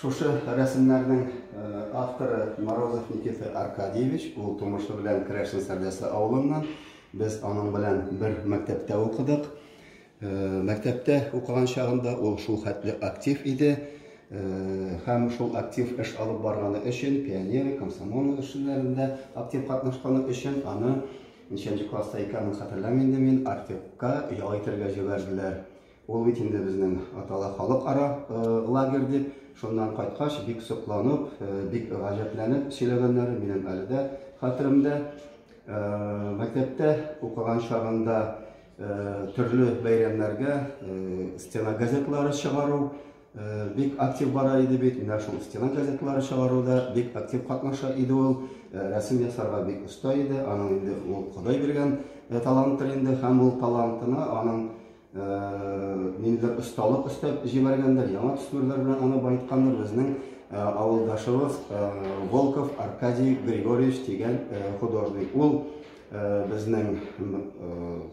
Шушы рәсемнәрнең э, авторы Морозов Никита Аркадьевич, ул тумышы белән Крәшин Сәрдәсе авылыннан. Без аның белән бер мәктәптә укыдык. Э, мәктәптә укыган чагында ул шул хәтле актив иде. Э, һәм шул актив эш алып барганы өчен, пионер, комсомол эшләрендә актив катнашканы өчен аны Ничәнче класста икәнен хәтерләмим инде мин, Артекка ял итәргә җибәрделәр. Ул бит инде безнең атала халыкара лагерь дип. Шуннан кайткач, бик сокланып, бик гаҗәпләнеп сөйләгәннәре минем әле дә хәтеремдә. Мәктәптә укыган чагында төрле бәйрәмнәргә стена газетлары чыгару, Бик актив бара иде бит, менә шул стена газеталары чыгаруда бик актив катнаша иде ул. Э, рәсем ясарга бик оста иде, аның инде ул Ходай биргән э, таланттыр инде һәм ул талантына аның э, ниндидер осталык өстәп җибәргәндер, яңа төсләр белән аны баеткандыр безнең авылдашыбыз Волков Аркадий Григорьевич дигән художник. Ул Безнең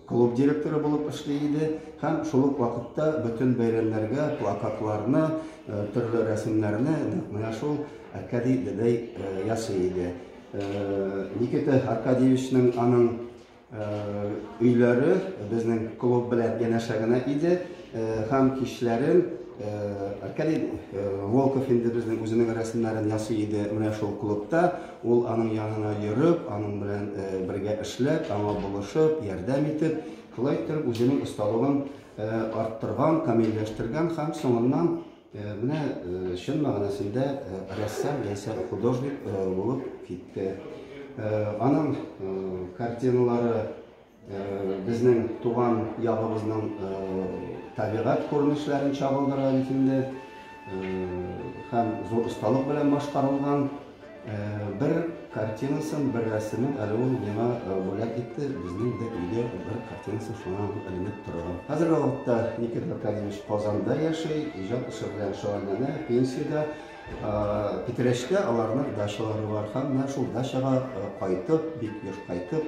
клуб директоры булып эшли иде һәм шул ук вакытта бөтен бәйрәмнәргә плакатларны, төрле рәсемнәрне нәкъ менә шул Аркадий дәдәй ясый иде. Никита Аркадьевичның аның өйләре безнең клуб белән янәшә генә иде. Һәм кичләрен Аркадий Волков инде безнең үзенең рәсемнәрен ясый иде менә шул клубта. Ул аның янына йөреп, аның белән бергә эшләп, аңа булышып, ярдәм итеп, шулай итеп үзенең осталыгын арттырган, камилләштергән һәм соңыннан менә чын мәгънәсендә рәссам яисә художник булып китте. Аның картиналары Безнең туган ягыбызның табигать күренешләрен чагылдыра бит инде. Һәм зур осталык белән башкарылган бер картинасын, бер рәсемен әле ул миңа бүләк итте. Безнең дә өйдә бер картинасы шуннан эленеп торган. Хәзерге вакытта Никита Аркадьевич Казанда яши, иҗат эше белән шөгыльләнә, пенсиядә. Питрәчтә аларның дачалары бар һәм менә шул дачага кайтып, бик еш кайтып,